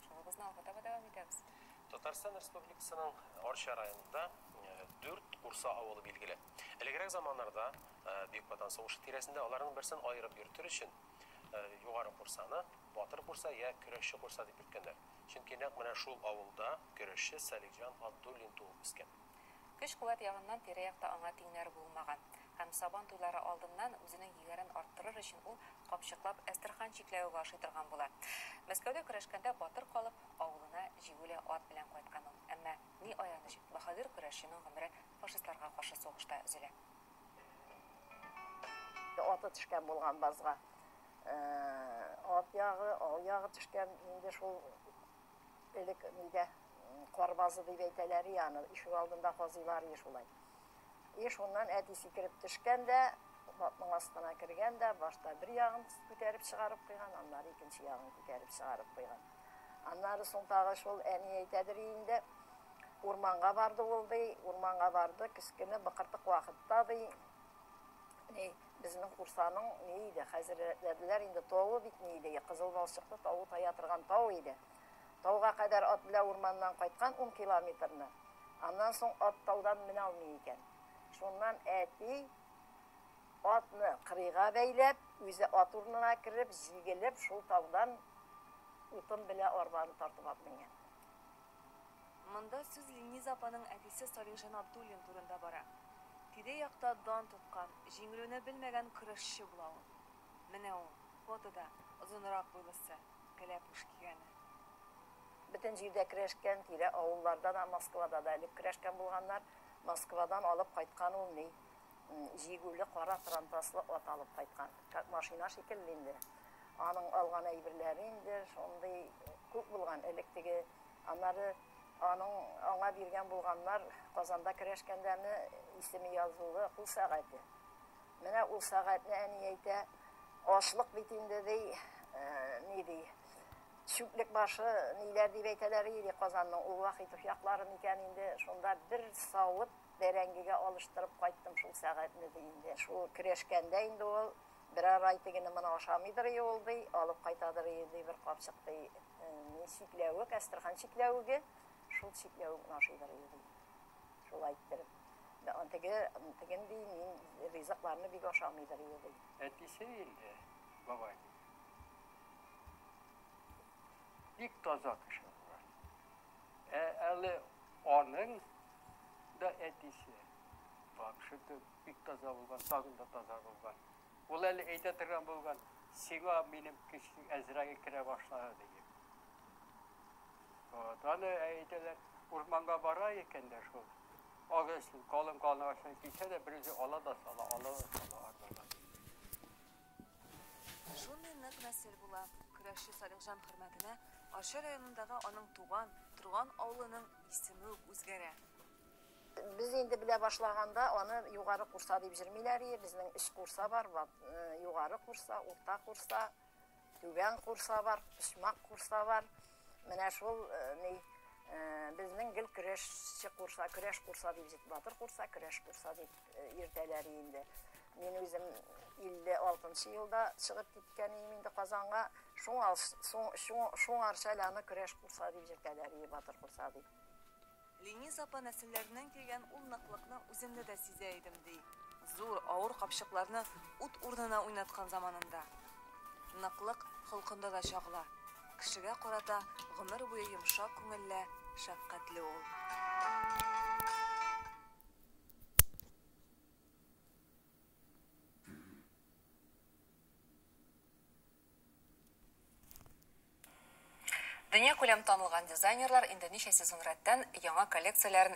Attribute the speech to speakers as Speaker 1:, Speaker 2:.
Speaker 1: Шугыбызны алга таба дәвам итәбез. Татарстан
Speaker 2: Республикасының Арча районында дүрт Урса авылы билгеле. Элегрәк заманнарда Бөек Ватан сугышы тирәсендә аларның берсен аерып йөртер өчен Югары Курсаны Батыр Курса я Көрәшче Курса дип йөрткәннәр. Чөнки нәкъ менә шул авылда көрәшче Салихҗан Абдуллин туып үскән. Көч-куәт
Speaker 1: ягыннан тирә-якта аңа тиңнәр булмаган. Һәм Сабан туйлары алдыннан үзенең егәрен арттырыр өчен ул капчыклап Әстерхан чикләве бу ашый торган була. Мәскәүдә көрәшкәндә батыр калып, авылына җигүле ат белән кайткан ул. Әмма, ни аяныч, баһадир көрәшченең гомере фашистларга каршы сугышта өзелә.
Speaker 3: Аты төшкән булган базга ат ягы, ау ягы төшкән, инде шул Элек нидә кар базы дип әйтәләр и аны, ишек алдында казыйлар и шулай. И шуннан әти сикереп төшкән дә, батның астына кергән дә, башта бер ягын күтәреп чыгарып куйган, аннары икенче ягын күтәреп чыгарып куйган. Аннары соң тагы шул әни әйтәдер инде, урманга барды ул ди, урманга барды, кечкенә быкыртык вакытта ди, ни, Безнең Курсаның ни иде, хәзер рәтләделәр инде, тавы бит ни иде, кызыл балчыклы тавы тая торган тау иде. Тауга кадәр ат белән урманнан кайткан ун километрны. Аннан соң ат таудан менә алмый икән. Шуннан әти атны кырыйга бәйләп, үзе ат урынына кереп, җигелеп, шул таудан утын белән арбаны тартып алып менгән.
Speaker 1: Монда сүз Лениза апаның әтисе Салихҗан Абдуллин турында бара. Тирә-якта дан тоткан, җиңелүне белмәгән көрәшче була ул. Менә ул, фотода, озынрак буйлысы, кәләпүш кигәне.
Speaker 3: Бөтен җирдә көрәшкән, тирә авылларда да, Москвада да элек көрәшкән булганнар. Москвадан алып кайткан ул, ни, Җигүле кара трампаслы ат алып кайткан. Как машина шикелле инде. Аның алган әйберләре инде шундый күп булган, элек теге, аннары аның аңа биргән булганнар, Казанда керәшкәндәме, исеме язулы кул сәгате. Менә ул сәгатьне әни әйтә, ашлык бит инде, ди, ни ди, чүплек башы, ниләр дип әйтәләр иде Казанның, ул вакыт яклары микән инде, шунда бер савыт Бәрәңгегә алыштырып кайттым шул сәгатьне, ди инде. Шул керәшкәндә инде ул берәр ай тегене моны ашамыйдыр ие ул, ди, алып кайтадыр ие, ди, бер капчык, ди, ни чикләвек, әстерхан чикләвеге, шул чикләвекне ашыйдыр ие, ди. Шулай иттереп. Теге, теген, ди, мин ризыкларны бик ашамыйдыр ие, ди. Әтисе инде,
Speaker 4: бабай. Бик таза кеше була. Ә әле аның да әтисе. Тамчы төп, бик таза булган, тагын да таза булган. Ул әле әйтә торган булган, сиңа минем кече Әзраил керә башлады диеп. Вот, аны әйтәләр, урманга бара икән дә шул. Агачны, калын калын агачны кисә дә, берүзе ала да сала, ала да сала арбага.
Speaker 1: Шундый нык нәсел була. Көрәшче Салихҗан хөрмәтенә Арча районындагы аның туган, торган авылының исеме үк үзгәрә.
Speaker 3: Без инде белә башлаганда аны Югары Курса дип җырмыйлар ие, безнең өч Курса бар, Югары Курса, Урта Курса, Түбән Курса бар, Почмак Курса бар. Менә шул ни, безнең гел Көрәшче Курса, Көрәш Курса дип җыт, Батыр Курса, Көрәш Курса дип. Иртәләре инде. Мин үзем 56 нчы елда чыгып киткән идем инде Казанга. Шуңа шуңарча әле аны көрәш курса дип йөртәләр, и батыр курса дип. Лениз
Speaker 1: апа нәселләреннән килгән ул ныклыкны үземдә дә сизә идем, ди. Зур, авыр капчыкларны ут урынына уйнаткан заманында. Ныклык холкында да чагыла. Кешегә карата гомер буе йомшак күңелле, шәфкатьле ул. Дөньякүләм танылган дизайнерлар инде ничә сезон рәттән яңа коллекцияләрен